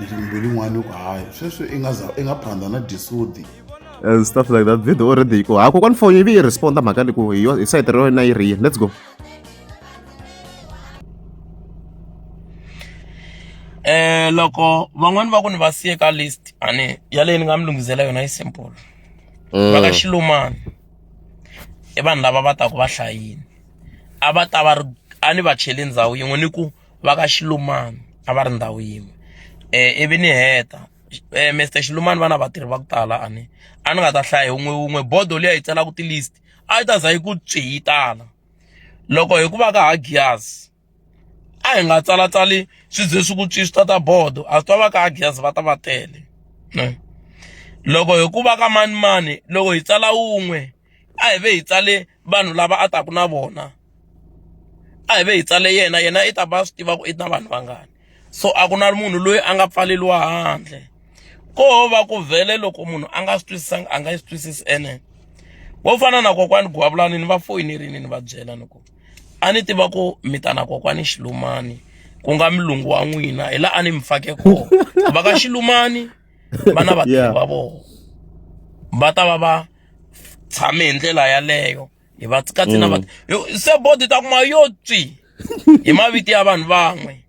ndzi mbilu n'wana ku hayi sweswi i nga za i nga phanda na disudi and stuff like that video already yi ko ha kokwani foni yi vi yi responda mhaka leyi ku hi yo hi sayiti ra wena yi ri yini let's go eh loko van'wani va ku ni va siye ka list ani yaleyi ni nga mi lunghisela yona yi simple va ka mm. xilumani i vanhu lava va taku va hlayini a va ta va ri a ni va cheli ndhawu yin'we ni ku va ka xilumani a va ri ndhawu yin'we um ivi ni heta um Mister xilumani va na vatirhi va ku tala a ni a ni nga ta hlaya hi wun'we wun'we bodo liya yi tsalaka ti-list a yi ta za yi ku tswi yi tala loko hi ku va ka ha ghiyazi a hi nga tsalatsali swi ze swi ku tswi swi ta ta bodo a swi ta va ka ha ghiyazi va ta va tele ne loko hi ku va ka manimani loko hi tsala wun'we a hi ve hi tsale vanhu lava a taka na vona a hi ve hi tsale yena yena i ta va swi tiva ku i na vanhu vangani so a ku na munhu loyi a nga pfaleliwa handle ko va ku vhele loko munhu a nga swi twisisanga a nga yi swi twisisi ene wo fana na kokwani guwavulani ni va foyinerini ni va byela ni ku a ni tiva ku mi ta na kokwani xilumani ku nga milungu wa n'wina hi laha a ni mi fake kona va ka xilumani va na vatirhi va vona va ta va va tshame hi ndlela yaleyo hi va katsi na va mm. se bodi ta kuma yo tswi hi mavito ya vanhu van'we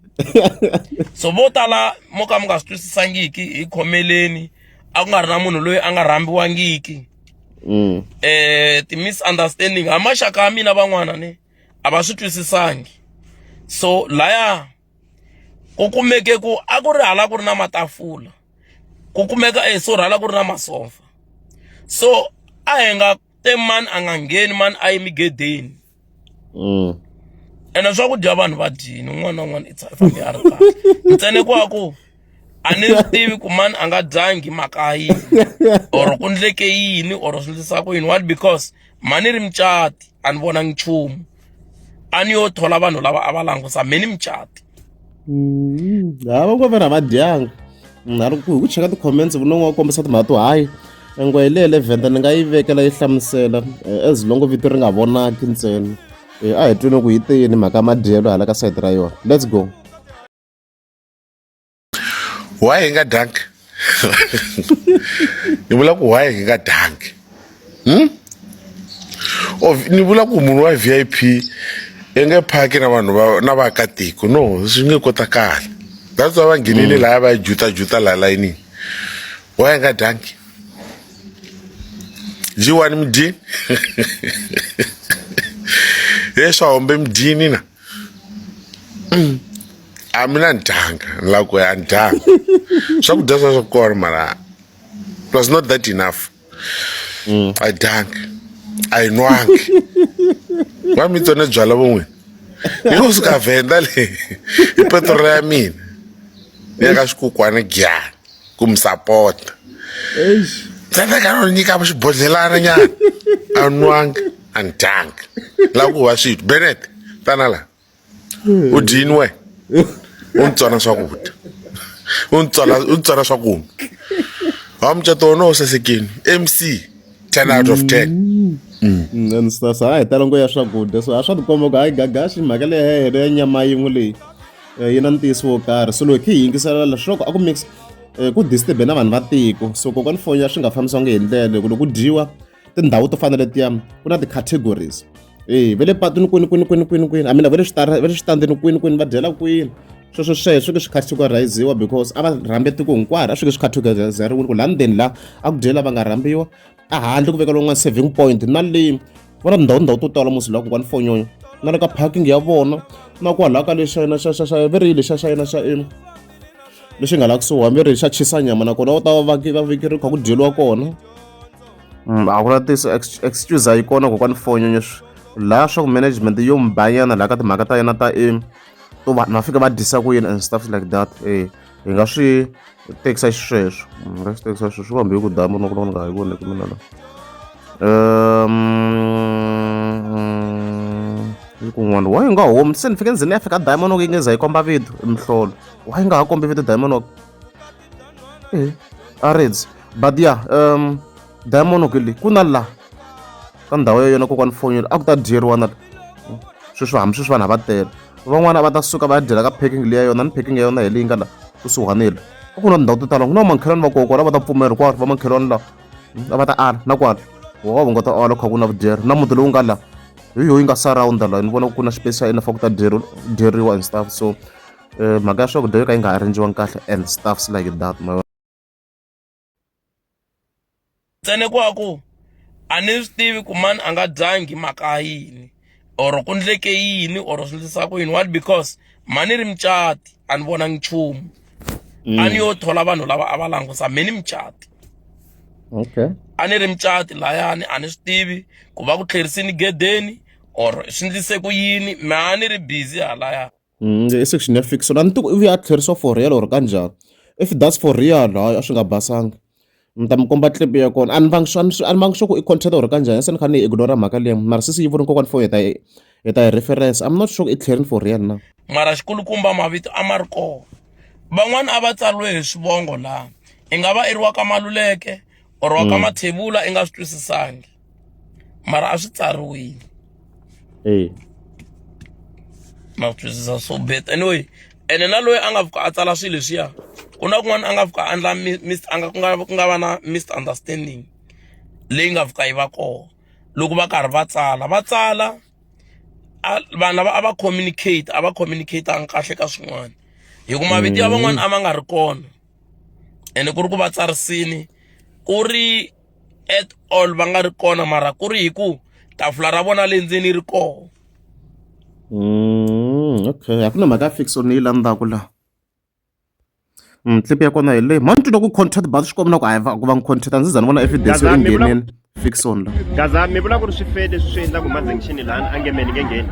so vo tala mo ka mi nga swi twisisangiki hi khomeleni a ku nga ri na munhu loyi a nga rhambiwangiki mm. eh ti-misunderstanding ha maxaka ya mina van'wana ni a va swi twisisangi so laya ku kumeke ku a ku ri hala ku ri na matafula ku kumeka e sorry hala ku ri na masofa so a hi nga te mani a nga ngheni mani a yi migedeni mm. ene swakudya vanhu va dyini un'wana na un'wana ifambe a ri kahle ntsene ku a ku a ni swi tivi ku mani a nga dyangi mhaka yini or ku ndleke yini or swi ndlisa ku yini what because mani ri mucati a ni vonangi nchumu a ni yo thola vanhu lava a va langusa me ni mucati mm-hmm. hava ku vana va dyanga na ri ku hi ku cheka ti-comments vunongo wa kombisa timhaka to hayi engwe hi leyi levhenda ni nga yi vekela yi hlamusela eh, as longo vito ri nga vonaki ntsena eh, a hi twini ku yi teyini mhaka madyelo hala ka sayiti ra yona let's go why hi nga dyangi ni vula ku why hi nga dyangi hmm? ni vula ku munhu wa vip i nge phaki na vanhu va na vaakatiko no swi nge kotakali that's why va nghenile mm. laya va yi jutajuta laha layinini why hi nga dyangi ji wani mi dyini he swa hombe mi dyini na a mina ni dyanga ni lava ku ya a ni dyanga swakudya swa swa kona mara it was not that enough mm. a dyanga a yi nwangi va mi tsone byala von'wini yi ku suka vhenda leyi hi petrolo ya mina ya ka swikukwana gyani ku mi sapota tsandza ka no nyika xibodlhelana nyana a nwanga and dunk la ku va swithu benet tana la u dyini we u ni tsona swakudya u ni tsona u ni tsona swakunwa ha mucato wona wu sasekini mc ten out of ten mm. sasa ha hi tala ngo ya swakudya so a swa tikomba ku hayi gagaxi mhaka leyi ya hina ya nyama yin'we leyi eh, yi na ntiyiso wo karhi so loko hi yingisela leswaku a ku mix eh, ku disturbe na vanhu va tiko so kokwana foni ya swi nga fambisiwangi hi ndlela loko loko dyiwa tindhawu to fana letiya ku na ti-categories e ve le patwini kwini kwini kwini kwini kwini amina ve le switara ve le switandzeni kwini kwini va dyela kwini sweswo sweswo swi ke swi categoriziwa because a va rhambe tiko hinkwaro a swi ke swi categorizeriwile ku laha ndzeni laha a ku dyela va nga rhambiwa a handle ku veka lowun'wana saving point na le va na tindhawu tindhawu to tala musi laha kun'wana fonyonyo na le ka parking ya vona na kwalaho ka lexayina xa xa xa verile xa xayina xa ina lexi nga la kusuhi hambi ri xa chisa nyama nakona va ta va vaki va vekeriwa kha ku dyeliwa kona mm, a ku na tiso excuse a yi kona kokwani fonyonyo laha swa ku management yo mbanyana laha ka timhaka ta yena ta aim to va na fika va disa ku yini and stuff like that e hi nga swi tekisa xisweswo hi nga swi tekisa xisweswo kambe yi ku damu na ku loko ni nga ha yi voni ku mina la um kun'wana wa yi nga home se ni fike ndzeni ya fika diamond walk yi nge za yi komba vito mihlolo wa yi nga ha kombi vito diamond walk e a reds but ya um diamond walk leyi ku na la ka ndhawu ya yona kokwani fonyela a ku ta dyeriwa na sweswi hambi sweswi vanhu a va tele van'wana va ta suka va ya dyela ka packing leyi ya yona ni packing ya yona hi leyi nga la kusuhanile a ku na tindhawu to tala ku na vamakhelwani va kokwana va ta pfumela hinkwaro vamakhelwani lawa a va ta ala na kwala wa nga ta ala kha ku na vudyeri na muti lowu nga la hi yoyi nga surround la ni vona ku na space xa yena fa ku ta dyeriwa and stuff so eh, mhaka ya swakudya yo ka yi nga arrangiwanga kahle and stuffs like that ma tsene kwaku a ni swi tivi ku mani a nga dyangi mhaka yini or ku ndleke yini or swi ndlisa ku yini what because mani ri mucati a ni vonangi nchumu mm. a ni yo thola vanhu lava a va langusa me ni mucati okay a ni ri mucati layani a ni swi tivi ku va ku tlherisini gedeni or swi ndlise ku yini me a ni ri busy halaya Mm, i section ya fix na ni ti ku ivi a tlherisiwa for real or kanjhani if that's for real hayi a swi nga basanga ni ta mi komba clip ya kona a ni vangi swa a ni vangi swa ku i content or kanjhani se ni kha ni ignora mhaka leyi mara sisi yi voni kokwani fo hi ta hi ta hi reference i'm not sure ku i tlherini for real na mara xikulukumba mavito a ma ri kona van'wana a va tsariwe hi swivongo laha i nga va i ri wa ka maluleke or wa ka mm. mathevula i nga swi twisisangi mara a swi tsariwile eya na swi twisisa so bet anyway ene na loyi a nga pfuka a tsala swilo leswiya ku na kun'wana a nga pfuka a endla a nga ku nga ku nga va na misunderstanding leyi nga pfuka yi va kona loko va karhi va tsala va tsala vanhu lava a va communicate a va communicatanga kahle ka swin'wana hi ku mavito ya van'wana a ma nga ri kona ene ku ri ku va tsarisini ku ri at all va nga ri kona mara ku ri hi ku tafula ra vona le ndzeni ri koho mm, okay a ku na mhaka ya fixo ni yi landzaka la mm, clip ya kona hi leyi mhani twi loko content bazi swi komina ku hayi ku va ni content a ndzi za ni vona evidence yo ingheneni fixon la gaza mi vula ku ri swifede swi swi endla ku mazengixini lani a nge meni nge ngheni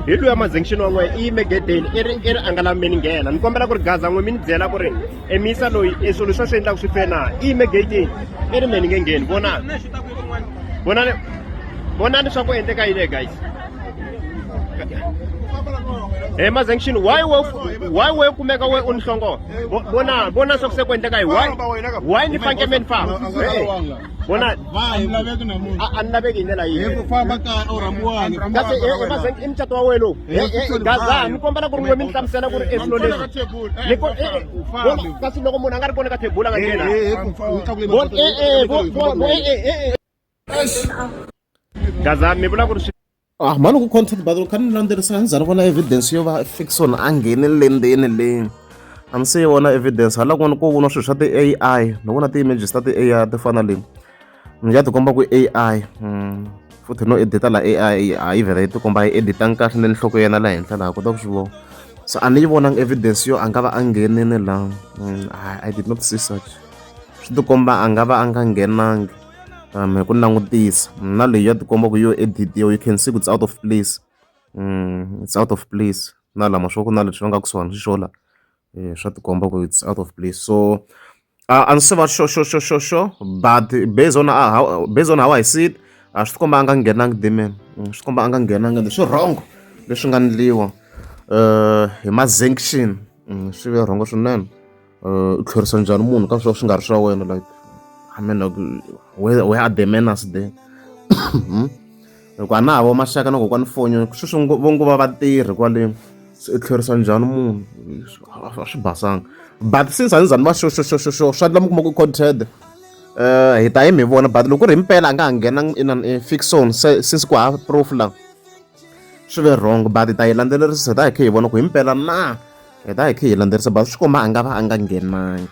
hi luya mazengixini wa n'wehe i yime gedeni i ri i ri a nga lavi meni nghena ni kombela ku ri gaza n'we mi ni byela ku ri emisa loyi e swilo leswi a swi endlaka swi fena i yime gatini i ri me ni nge ngheni vonani vonani vonani leswaku endleka yini guys Hey Mazenkshin, why we why we kumeka we unhlongo? Bona bona sokusekuendeka hi why? Why ni fanke men fa? vona a ni laveki na munhu a a ni laveki hi ndlela hi ku yihi famba kaya u rhambiwani ku kasi famba kaya. emazeng i mucato wa wena lowu Eh, Eh, eh, kusuhi gaza nayo. ni kombela ku ri n'we mi ni hlamusela ku ri i swilo leswi Ni ko- eh, eh, vona, kasi loko munhu a nga ri kona ka thebula a nga nghena Eh, eh, ku- ku tlakule Vona, mapoto, eh, eh, eh, vo- vo- vo- eh, eh, eh, eh. gaza mi vula ku ri swi Ah, mhani ku content battle ka ni landzelerisa ni za ni vona evidence yo va fiction a ngheni lendeni leyi a ni se yi vona evidence hala kun'wana ko vona swilo swa ti-ai ni vona ti-images ta ti-ai ti fana leyi ni ya tikomba ku ai hmm, futhi no edita la ai a yi vhela yi tikomba yi editanga kahle ni nhloko yena la henhla laha kota ku swi vona so a ni yi vonanga evidence yo a nga va a nghenini laha hmm, i did not see such swi tikomba a nga va a nga nghenangi um hi ku langutisa na leyi ya tikomba ku yo editiwa you can see ku it's out of place um it's out of place na lama swo ku na leswi va nga ku swona swi xola um swa tikomba ku it's out of place so uh, a ndzi se va xo xo xo xo xo but based on uh, how, based on how i see it a swi tikomba a nga nghenangi demon mm, swi tikomba a nga nghenangi leswi wrong leswi nga ndliwa um hi ma-sanction mm, swi ve rhongo swinene u tlherisa njhani munhu ka swo swi nga ri swa wena like i mean like where, where are the manners there hmm? loko a na ha vo maxaka na kokwani fonyo sweswi vo ngo va vatirhi kwale se u tlherisa njhani munhu a swi basanga but since a ni zani va xoxoxoxoxo swa ndla mi kuma ku conted um eh, hi ta yi mi vona but loko ri mpela a nga ha nghena in an fixon since ku ha proof la swi ve wrong but hi ta yi landzelerisa hi ta hi khe hi vona ku hi mpela na hi ta hi khe hi landzelerisa but swi komba a nga va a nga nghenangi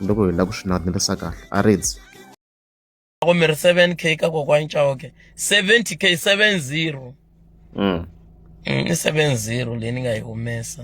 loko hi lava ku swi landzelerisa kahle a ridzi loko mi ri 7 k ka kokwani chauke 70 k 70 mm. mm, i 70 leyi ni nga yi humesa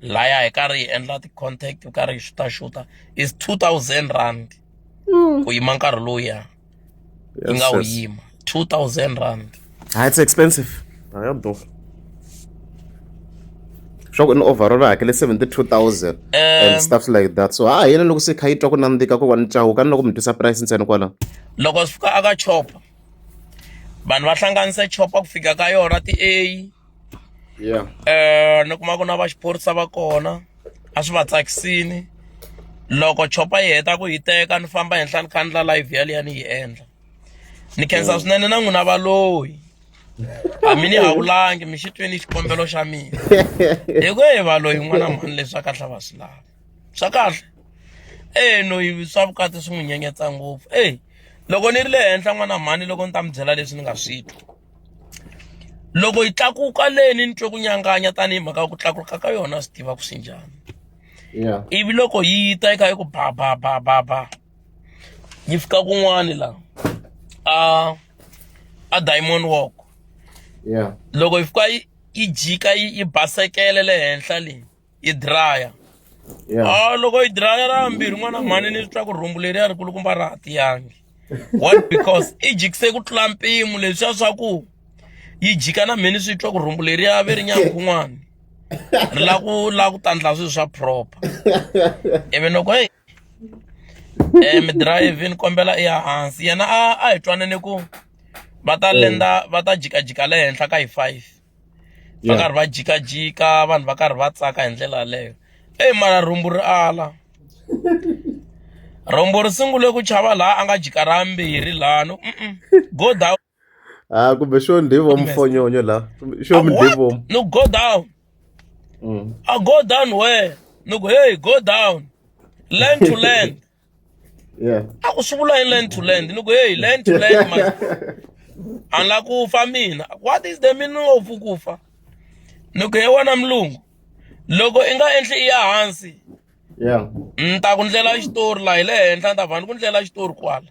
laya hi karhi hi endla ti-contact hi karhi hi xutaxuta is two thousand rand mm. ku yima nkarhi lowuya yi nga wu yima two thousand rand ha ah, it's expensive a ya durha swa ku in overall va hakele seventy two thousand and um, stuff like that so ha yena loko se kha yi twa ku nandzika ku va ni cawu kani loko mi twisa price ntsena kwala loko swi fika aka chopa vanhu va hlanganisa chopa ku fika ka yona ti-a yeah eh ni kuma ku na va xiphorisa va kona a swi va tsakisini loko chopa yi heta ku yi teka ni famba henhla ni khandla live yaliya ni yi endla ni khensa mm. swinene na n'wina valoyi hambi ni hawulangi mi xi twini xikombelo xa mina hi ku hi valoyi n'wana mhani leswi a kahle va swi lava swa kahle e noyi swa vukati swi n'wi nyenyetsa ngopfu e loko ni ri le henhla n'wana mhani loko ni ta mi byela leswi ni nga swi twi loko yi tlakuka leni ni twe ku nyanganya tanihi mhaka ya ku tlakuka ka yona swi tiva ku swi njhani yeah ivi loko yi ta yi kha yi ku ba ba ba ba ba yi fika kun'wani la a a diamond walk yeah loko yi fika yi yi jika yi yi basekele le henhla leyi yi draya Yeah. a loko yi draya ra mbirhi n'wana mhani ni twa ku rhumbu leriya ri kulukumba ra ha tiyangi what because i jikise ku tlula mpimo leswiya swa ku yi jika na mheni swi twa ku rhumbu leriya ve ri nyanga kun'wana ri la ku la ku tandla swilo swa proper ivi loko hey eh mi drive ni kombela i ya hansi yena a a hi twanane ku va ta lenda va ta jikajika le henhla ka hi five va karhi va jikajika vanhu va karhi va tsaka hi ndlela yaleyo eyi mara rhumbu ri ala rhumbu ri sungule ku chava laha a nga jika ra mbirhi lano go down a ah, kumbe xo ndivo mufonyonyo la xo mdivo no go down mm. a go down where no go hey go down land to land yeah a ku swi vula hi land to land ni ku hey land to land my a ni la ku fa mina what is the meaning of ku fa ni ku he wona mulungu loko i nga endli i ya hansi yeah ni ta ku ndlela xitori laha hi le henhla ni ta va ni ku ndlela xitori kwala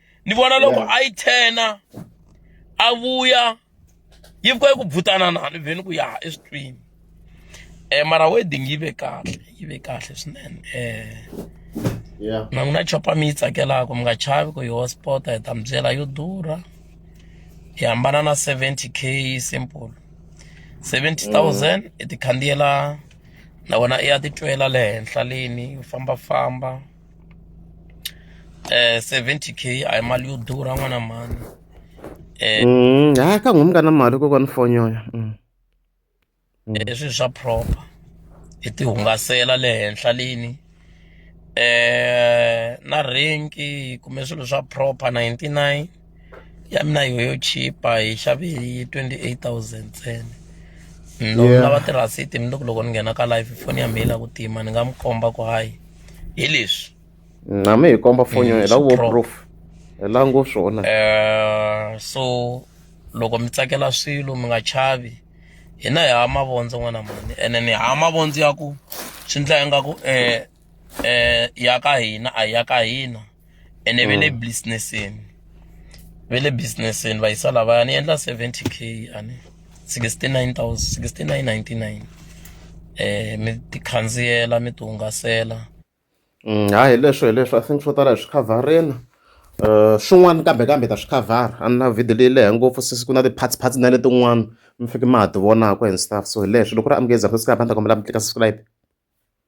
ni vona loko Yeah. a yi thena a vuya yi vuka yi ku bvutana na ni vheni ku ya eswitwini um mara wedding yi ve kahle yi ve kahle swinene um Yeah. na n'wina chopa mi yi tsakelaka mi nga chavi ku yi hospota hi ta mi byela yo durha hi hambana na 70 k simple 70000 i ti khandziyela na wena i ya titwela le henhla leni u fambafamba eh 70k a hi mali yo durha n'wana mhani eh mm, ha ka n'wi ka na mali kokwana foni yoyo mm. mm. eh, swi swa proper hi ti hungasela le henhla lini eh na renki kume swilo swa proper 99 ya mina yi yo chipa hi xave hi twenty eight thousand ntsena loko ni lava tirhasiti ni loko loko ni nghena ka live foni ya mina yi la ku tima ni nga mi komba ku hayi hi leswi na mi hi komba foni yo hi la ku vo proof hi la ngo swona um so loko mi tsakela swilo mi nga chavi hina hi hava mavondzo n'wana mani ene ni hava mavondzo ya ku swi ndla ingaku um eh ya ka hina a ya ka hina ene ve le mm. businessini ve le businessini va yisa lavaya ni endla 70 k ani 69 6999 eh mi tikhandziyela mi tihungasela mm, ha hi leswo hi leswo i think swo tala hi swi khavhareni um swin'wana kambe kambe ta swi khavhara a ni na video leyi lehe ngopfu sisi ku na ti-parts parts na letin'wana mi fike ma ha ti vonaka and stuff so hi leswo loko ri amukeza sasika hamba ni ta kombela mi tlika subscribe